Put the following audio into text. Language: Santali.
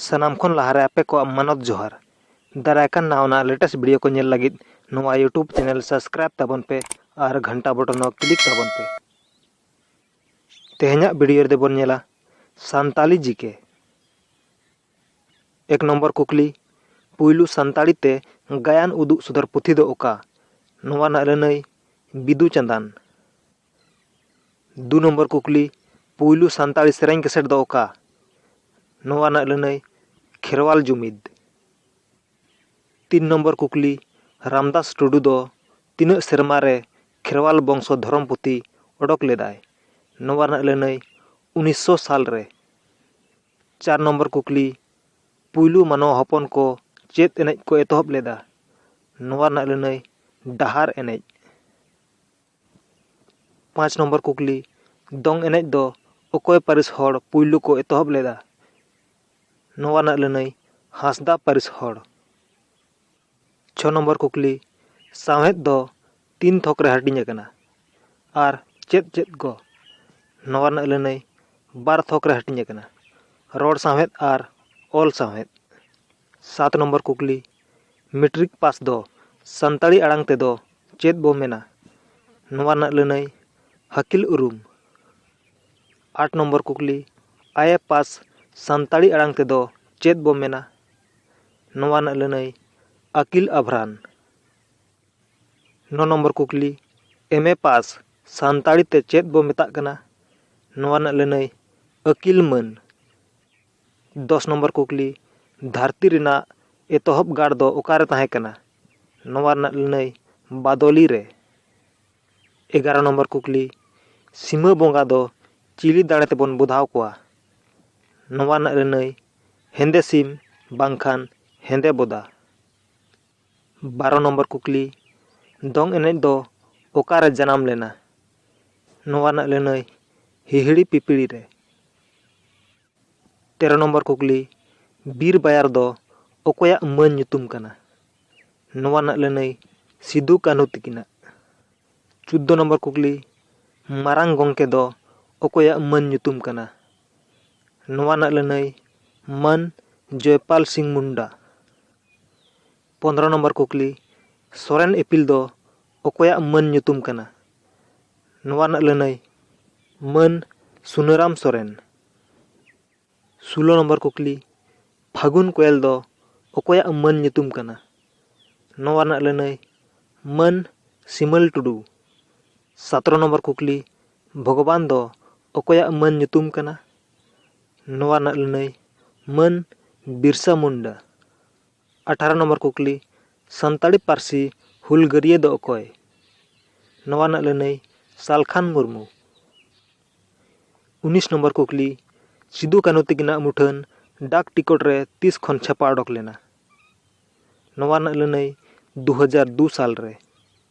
ᱥᱟᱱᱟᱢ ᱠᱷᱚᱱ ᱞᱟᱦᱟᱨᱮ ᱟᱯᱮ ᱠᱚᱣᱟᱜ ᱢᱟᱱᱚᱛ ᱡᱚᱦᱟᱨ ᱫᱟᱨᱟᱭ ᱠᱟᱱ ᱱᱟᱣᱟ ᱞᱮᱴᱮᱥᱴ ᱵᱷᱤᱰᱤᱭᱳ ᱠᱚ ᱧᱮᱞ ᱞᱟᱹᱜᱤᱫ ᱱᱚᱣᱟ ᱭᱩᱴᱩᱵᱽ ᱪᱮᱱᱮᱞ ᱥᱟᱵᱥᱠᱨᱟᱭᱤᱵ ᱛᱟᱵᱚᱱ ᱯᱮ ᱟᱨ ᱜᱷᱟᱱᱴᱟ ᱵᱚᱴᱚᱱ ᱦᱚᱸ ᱠᱞᱤᱠ ᱛᱟᱵᱚᱱ ᱯᱮ ᱛᱮᱦᱮᱧᱟᱜ ᱵᱷᱤᱰᱤᱭᱳ ᱨᱮᱫᱚ ᱵᱚᱱ ᱧᱮᱞᱟ ᱥᱟᱱᱛᱟᱞᱤ ᱡᱤᱠᱮ ᱮᱠ ᱱᱚᱢᱵᱚᱨ ᱠᱩᱠᱞᱤ, ᱯᱩᱭᱞᱩ ᱥᱟᱱᱛᱟᱲᱤ ᱛᱮ ᱜᱟᱭᱟᱱ ᱩᱫᱩᱜ ᱥᱚᱫᱚᱨ ᱯᱩᱛᱷᱤ ᱫᱚ ᱚᱠᱟ? ᱱᱚᱣᱟ ᱨᱮᱱᱟᱜ ᱞᱟᱹᱱᱟᱹᱭ, ᱵᱤᱫᱩ ᱪᱟᱸᱫᱟᱱ᱾ ᱫᱩ ᱱᱚᱢᱵᱚᱨ ᱠᱩᱠᱞᱤ, ᱯᱩᱭᱞᱩ ᱥᱟᱱᱛᱟᱲᱤ ᱥᱮᱨᱮᱧ ᱠᱮᱥᱮᱴ ᱫᱚ ᱚᱠᱟ? ᱱᱚᱣᱟ ᱨᱮᱱᱟᱜ ᱞᱟᱹᱱᱟᱹᱭ, ᱠᱷᱮᱨᱣᱟᱞ ᱡᱩᱢᱤᱫᱽ᱾ ᱛᱤᱱ ᱱᱚᱢᱵᱚᱨ ᱠᱩᱠᱞᱤ, ᱨᱟᱢᱫᱟᱥ ᱴᱩᱰᱩ ᱫᱚ ᱛᱤᱱᱟᱹᱜ ᱥᱮᱨᱢᱟ ᱨᱮ ᱠᱷᱮᱨᱣᱟᱞ ᱵᱚᱝᱥᱚ ᱫᱷᱚᱨᱚᱢ ᱯᱩᱛᱷᱤ ᱚᱰᱚᱠ ᱞᱮᱫᱟᱭ? ᱱᱚᱣᱟ ᱨᱮᱱᱟᱜ ᱞᱟᱹᱱᱟᱹᱭ, ᱩᱱᱤᱥᱥᱚ ᱥᱟᱞ ᱨᱮ᱾ ᱪᱟᱨ ᱱᱚᱢᱵᱚᱨ ᱠᱩᱠᱞᱤ ᱯᱩᱭᱞᱩ ᱢᱟᱱᱣᱟ ᱦᱚᱯᱚᱱ ᱠᱚ ᱪᱮᱫ ᱮᱱᱮᱡ ᱠᱚ ᱮᱛᱚᱦᱚᱵ ᱞᱮᱫᱟ ᱱᱚᱣᱟ ᱨᱮᱱᱟᱜ ᱞᱟᱹᱱᱟᱹᱭ ᱰᱟᱦᱟᱨ ᱮᱱᱮᱡ ᱯᱟᱸᱪ ᱱᱚᱢᱵᱚᱨ ᱠᱩᱠᱞᱤ ᱫᱚᱝ ᱮᱱᱮᱡ ᱫᱚ ᱚᱠᱚᱭ ᱯᱟᱹᱨᱤᱥ ᱦᱚᱲ ᱯᱩᱭᱞᱩ ᱠᱚ ᱮᱛᱚᱦᱚᱵ ᱞᱮᱫᱟ ᱱᱚᱣᱟ ᱨᱮᱱᱟᱜ ᱞᱟᱹᱱᱟᱹᱭ ᱦᱟᱸᱥᱫᱟ ᱯᱟᱹᱨᱤᱥ ᱦᱚᱲ ᱪᱷᱚ ᱱᱚᱢᱵᱚᱨ ᱠᱩᱠᱞᱤ ᱥᱟᱶᱦᱮᱫ ᱫᱚ ᱛᱤᱱ ᱛᱷᱚᱠ ᱨᱮ ᱦᱟᱹᱴᱤᱧ ᱟᱠᱟᱱᱟ ᱟᱨ ᱪᱮᱫ ᱪᱮᱫ ᱠᱚ ᱱᱚᱣᱟ ᱨᱮᱱᱟᱜ ᱞᱟᱹᱱᱟᱹᱭ ᱵᱟᱨ ᱛᱷᱚᱠ ᱨᱮ ᱦᱟᱹᱴᱤᱧ ᱟᱠᱟᱱᱟ ᱨᱚᱲ ᱥᱟᱶᱦᱮᱫ ᱟᱨ ᱚᱞ ᱥᱟᱶᱦᱮᱫ ᱥᱟᱛ ᱱᱚᱢᱵᱚᱨ ᱠᱩᱠᱞᱤ ᱢᱮᱴᱨᱤᱠ ᱯᱟᱥ ᱫᱚ ᱥᱟᱱᱛᱟᱲᱤ ᱟᱲᱟᱝ ᱛᱮᱫᱚ ᱪᱮᱫ ᱵᱚ ᱢᱮᱱᱟ ᱱᱚᱣᱟ ᱨᱮᱱᱟᱜ ᱞᱟᱹᱱᱟᱹᱭ ᱟᱹᱠᱤᱞ ᱩᱨᱩᱢ ᱟᱴ ᱱᱚᱢᱵᱚᱨ ᱠᱩᱠᱞᱤ ᱟᱭᱮ ᱯᱟᱥ ᱥᱟᱱᱛᱟᱲᱤ ᱟᱲᱟᱝ ᱛᱮᱫᱚ ᱪᱮᱫ ᱵᱚ ᱢᱮᱱᱟ ᱱᱚᱣᱟ ᱨᱮᱱᱟᱜ ᱞᱟᱹᱱᱟᱹᱭ ᱟᱠᱤᱞ ᱟᱵᱷᱨᱟᱱ ᱱᱚ ᱱᱚᱢᱵᱚᱨ ᱠᱩᱠᱞᱤ ᱮᱢ ᱮ ᱯᱟᱥ ᱥᱟᱱᱛᱟᱲᱤ ᱛᱮ ᱪᱮᱫ ᱵᱚ ᱢᱮᱛᱟᱜ ᱠᱟᱱᱟ ᱱᱚᱣᱟ ᱨᱮᱱᱟᱜ ᱞᱟᱹᱱᱟᱹᱭ ᱟᱹᱠᱤᱞ ᱢᱟᱹᱱ ᱫᱚᱥ ᱱᱚᱢᱵᱚᱨ ᱠᱩᱠᱞᱤ ᱫᱷᱟᱹᱨᱛᱤ ᱨᱮᱱᱟᱜ ᱮᱛᱚᱦᱚᱵ ᱜᱟᱲ ᱫᱚ ᱚᱠᱟᱨᱮ ᱛᱟᱦᱮᱸ ᱠᱟᱱᱟ ᱱᱚᱣᱟ ᱨᱮᱱᱟᱜ ᱞᱟᱹᱱᱟᱹᱭ ᱵᱟᱫᱚᱞᱤ ᱨᱮ ᱮᱜᱟᱨᱚ ᱱᱚᱢᱵᱚᱨ ᱠᱩᱠᱞᱤ ᱥᱤᱢᱟᱹ ᱵᱚᱸᱜᱟ ᱫᱚ ᱪᱤᱞᱤ ᱫᱟᱲᱮ ᱛᱮᱵᱚᱱ ᱵᱚᱫᱷᱟᱣ ᱠᱚᱣᱟ ᱱᱚᱣᱟ ᱨᱮᱱᱟᱜ ᱞᱟᱹᱱᱟᱹᱭ ᱦᱮᱸᱫᱮ ᱥᱤᱢ ᱵᱟᱝᱠᱷᱟᱱ ᱦᱮᱸᱫᱮ ᱵᱚᱫᱟ᱾ ᱵᱟᱨᱚ ᱱᱚᱢᱵᱚᱨ ᱠᱩᱠᱞᱤ, ᱫᱚᱝ ᱮᱱᱮᱡ ᱫᱚ ᱚᱠᱟ ᱨᱮ ᱡᱟᱱᱟᱢ ᱞᱮᱱᱟ? ᱱᱚᱣᱟ ᱨᱮᱱᱟᱜ ᱞᱟᱹᱱᱟᱹᱭ ᱦᱤᱦᱤᱲᱤ ᱯᱤᱯᱤᱲᱤ ᱨᱮ᱾ ᱛᱮᱨᱚ ᱱᱚᱢᱵᱚᱨ ᱠᱩᱠᱞᱤ, ᱵᱤᱨ ᱵᱟᱭᱟᱨ ᱫᱚ ᱚᱠᱚᱭᱟᱜ ᱢᱟᱹᱱ ᱧᱩᱛᱩᱢ ᱠᱟᱱᱟ? ᱱᱚᱣᱟ ᱨᱮᱱᱟᱜ ᱞᱟᱹᱱᱟᱹᱭ ᱥᱤᱫᱩ ᱠᱟᱹᱱᱦᱩ ᱛᱤᱠᱤᱱᱟᱜ᱾ ᱪᱩᱫᱫᱚ ᱱᱚᱢᱵᱚᱨ ᱠᱩᱠᱞᱤ, ᱢᱟᱨᱟᱝ ᱜᱚᱝᱠᱮ ᱫᱚ ᱚᱠᱚᱭᱟᱜ ᱢᱟᱹᱱ ᱧᱩᱛᱩᱢ ᱠᱟᱱᱟ? ᱱᱚᱣᱟ ᱨᱮᱱᱟᱜ ᱞᱟᱹᱱᱟᱹᱭ ᱢᱟᱹᱱ ᱡᱚᱭᱯᱟᱞ ᱥᱤᱝ ᱢᱩᱱᱰᱟ ᱯᱚᱸᱫᱽᱨᱚ ᱱᱚᱢᱵᱚᱨ ᱠᱩᱠᱞᱤ ᱥᱚᱨᱮᱱ ᱤᱯᱤᱞ ᱫᱚ ᱚᱠᱚᱭᱟᱜ ᱢᱟᱹᱱ ᱧᱩᱛᱩᱢ ᱠᱟᱱᱟ ᱱᱚᱣᱟ ᱨᱮᱱᱟᱜ ᱞᱟᱹᱱᱟᱹᱭ ᱢᱟᱹᱱ ᱥᱩᱱᱟᱹᱨᱟᱢ ᱥᱚᱨᱮᱱ ᱥᱳᱞᱳ ᱱᱚᱢᱵᱚᱨ ᱠᱩᱠᱞᱤ ᱯᱷᱟᱹᱜᱩᱱ ᱠᱚᱭᱮᱞ ᱫᱚ ᱚᱠᱚᱭᱟᱜ ᱢᱟᱹᱱ ᱧᱩᱛᱩᱢ ᱠᱟᱱᱟ ᱱᱚᱣᱟ ᱨᱮᱱᱟᱜ ᱞᱟᱹᱱᱟᱹᱭ ᱢᱟᱹᱱ ᱥᱤᱢᱚᱞ ᱴᱩᱰᱩ ᱥᱟᱛᱨᱚ ᱱᱚᱢᱵᱚᱨ ᱠᱩᱠᱞᱤ ᱵᱷᱚᱜᱚᱵᱟᱱ ᱫᱚ ᱚᱠᱚᱭᱟᱜ ᱢᱟᱹᱱ ᱧᱩᱛᱩᱢ ᱠᱟᱱᱟ? ᱱᱚᱣᱟ ᱨᱮᱱᱟᱜ ᱞᱟᱹᱱᱟᱹᱭ, ᱢᱟᱹᱱ ᱵᱤᱨᱥᱟ ᱢᱩᱱᱰᱟ᱾ ᱟᱴᱷᱟᱨᱚ ᱱᱚᱢᱵᱚᱨ ᱠᱩᱠᱞᱤ, ᱥᱟᱱᱛᱟᱲᱤ ᱯᱟᱹᱨᱥᱤ ᱦᱩᱞᱜᱟᱹᱨᱤᱭᱟᱹ ᱫᱚ ᱚᱠᱚᱭ? ᱱᱚᱣᱟ ᱨᱮᱱᱟᱜ ᱞᱟᱹᱱᱟᱹᱭ, ᱥᱟᱞᱠᱷᱟᱱ ᱢᱩᱨᱢᱩ᱾ ᱩᱱᱤᱥ ᱱᱚᱢᱵᱚᱨ ᱠᱩᱠᱞᱤ, ᱥᱤᱫᱩ ᱠᱟᱹᱱᱦᱩ ᱛᱤᱠᱤᱱᱟᱜ ᱢᱩᱴᱷᱟᱹᱱ ᱰᱟᱠ ᱴᱤᱠᱚᱴ ᱨᱮ ᱛᱤᱥ ᱠᱷᱚᱱ ᱪᱷᱟᱯᱟ ᱚᱰᱚᱠ ᱞᱮᱱᱟ? ᱱᱚᱣᱟ ᱨᱮᱱᱟᱜ ᱞᱟᱹᱱᱟᱹᱭ, ᱫᱩ ᱦᱟᱡᱟᱨ ᱫᱩ ᱥᱟᱞ ᱨᱮ᱾